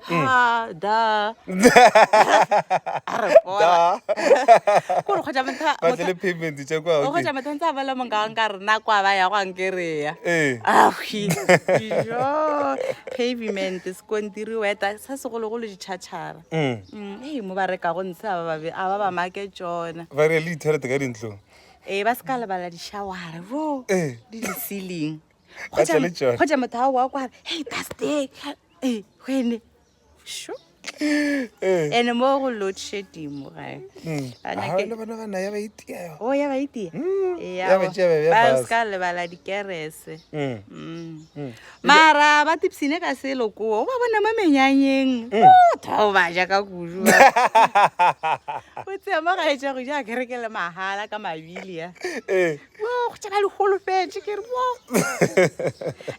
ha da a re pola kore kgotsa motha ba tle le payment tša kwa o kgotsa motha ntse a bala monga wa nka re na kwa ba ya go ankereya ee a kwi jo pavement sekontiri weta sa segologolo ditšhatšhara mm ee mo ba reka go ntshe a ba ba be a ba ba make tsona ba re le ithelete ka dintlong ee ba se ka lebala dishawara bo ee di di ceiling Ba tla le tšona. kgotša motho ao wa kwara hey baste Eh, wene sho Eh, ene mo go load shedimo gae mm. Ba Ah, nyake- le bona ba naya ba itia yona. o ya ba itia Mm, Eya, ya ba tšea ba e beya ba fase. se ka lebala dikerese Mm, Mm. mm. mara ba tipsine ka selo koo o ba bona mo menyanyeng Mm. O tho ba ja ka kudu o tsea mo gaetša go ja kereke le mahala ka mabili ya Eh,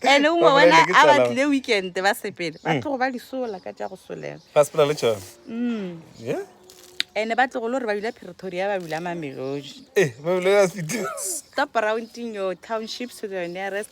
ene o mo wena a ba tlile weekend ba sepele ba tlogo ba disola ka tša go solela ene ba tlogo le gore ba bile pretoria ba bile mamelodi stop rounding your townships to the nearest